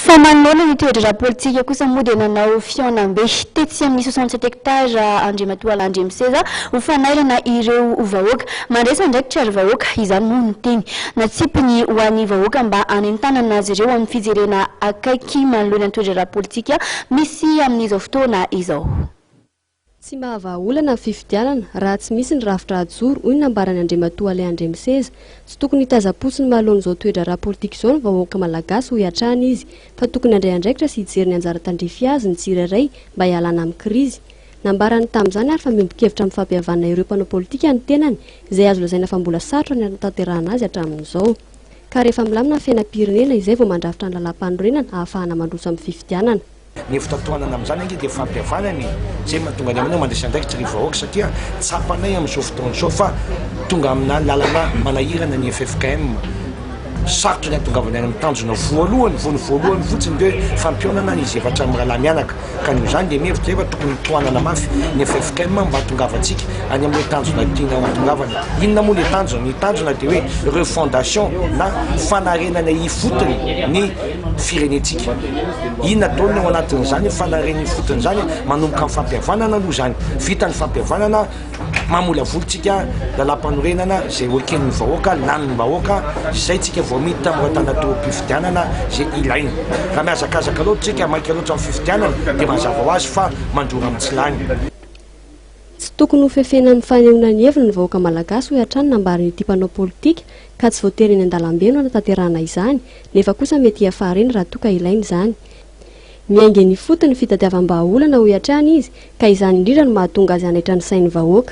Fa manoloana ny toedraharaha politika kosa moa dia nanao fihaonambe tetsy amin'ny soixante sept hectares Andriamatoa Landriamiseza ho fanairana ireo vahoaka. Mandresy andraikitra ry vahoaka, izany moa no teny natsipiny ho an'ny vahoaka mba hanentanana azy ireo amin'ny fijerena akaiky manoloana ny toedraharaha politika misy amin'izao fotoana izao. Tsy mahavaha olana ny fifidianana raha tsy misy ny rafitra hajoro, hoy ny nambaran'i Andriamatoa Alain Andriamiseza. Tsy tokony hitazam-potsiny manoloana izao toe-draharaha politika izao ny vahoaka malagasy, hoy hatrany izy, fa tokony handray andraikitra sy hijery ny anjara tandrify azy ny tsirairay mba hialana amin'ny krizy. Nambarany tamin'izany ary fa miombon-kevitra amin'ny fampihavana ireo mpanao politika ny tenany, izay azo lazaina fa mbola sarotra ny hanatanterahana azy hatramin'izao. Ka rehefa milamina ny fiainam-pirenena, izay vao mandrafitra ny lalàm-panorenana ahafahana mandroso amin'ny fifidianana. Ny fitantohanana amin'izany ange dia fampihavanana e! Izay no mahatonga ny aminay mandresy andraikitra ny vahoaka satria tsapanay amin'izao fotoana izao fa tonga amina lalana manahirana ny ffkm. Sarotra ny hahatongavana any amin'ny tanjona voalohany vao ny voalohany fotsiny dia hoe fampihaonana ny zefatra mirahalahy mianaka. Ka noho izany dia mihevitra ahy fa tokony hotohanana mafy ny ffkm mba hahatongavantsika any amin'ilay tanjona tiana hahatongavana. Inona moa ilay tanjona? Ny tanjona dia hoe refondation na fanarenana ifotony ny firenentsika. Inona daholo ny ao anatin'izany fanariana ifotony izany? Manomboka amin'ny fampihavanana aloha izany. Vita ny fampihavanana, mamolavoly tsika lalàmpanorenana izay ho eken'ny vahoaka, lanin'ny vahoaka, izay tsika voamidy tamin'ireo tanatorom-pifidianana izay ilaina. Raha mihazakazaka loatra tsika, maika loatra amin'ny fifidianana dia mazava ho azy fa mandrora amin'ny tsy lany. Tsy tokony ho fefena amin'ny fanehoana ny heviny ny vahoaka malagasy hoy hatrany ny nambaran'ity mpanao politika ka tsy voatery eny an-dalambe no hanatanterahana izany nefa kosa mety hiafara eny raha toa ka ilaina izany. Miainga eny ifotony ny fitadiavam-bahaolana hoy hatrany izy ka izany indrindra no mahatonga azy hanaitra ny sain'ny vahoaka.